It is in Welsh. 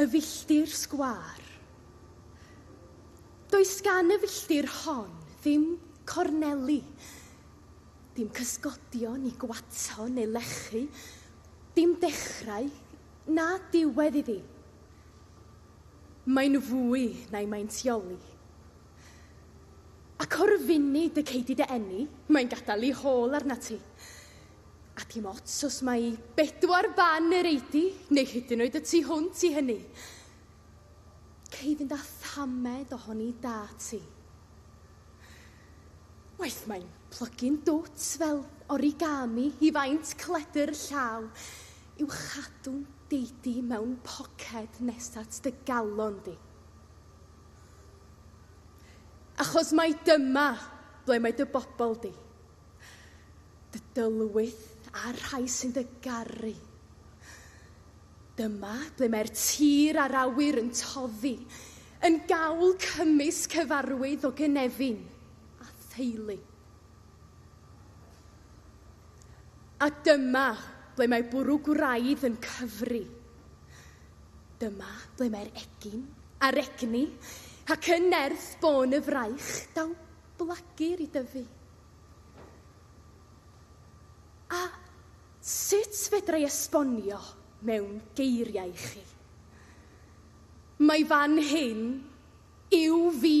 Y filltir sgwâr. Does gan y filltir hon ddim corneli, dim cysgodion i gwato neu lechu, dim dechrau na diwedd iddi. Mae'n fwy na'i maintioli. Ac o'r funud y cei di dy eni, mae'n gadael ei hôl arnat ti. Ac i'm ots os mai bedwar ban yr eidi, neu hyd yn oed y tu hwnt i hynny. Cei fynd â thamed ohoni da ti. Waeth mae'n plygu'n dwt fel origami i faint cledr llaw i'w chadw'n deidi mewn poced nes at dy galon di. Achos mai dyma ble mae dy bobl di. dy dylwyth a'r rhai sy'n dy garu. Dyma ble mae'r tir a'r awyr yn toddi, yn gawl cymys cyfarwydd o gynefin a theulu. A dyma ble mae bwrw gwraidd yn cyfri. Dyma ble mae'r egin a'r egni ac yn nerth bôn y fraich daw blagir i dyfu? A sut fedra i esbonio mewn geiriau i chi? Mae fan hyn yw fi.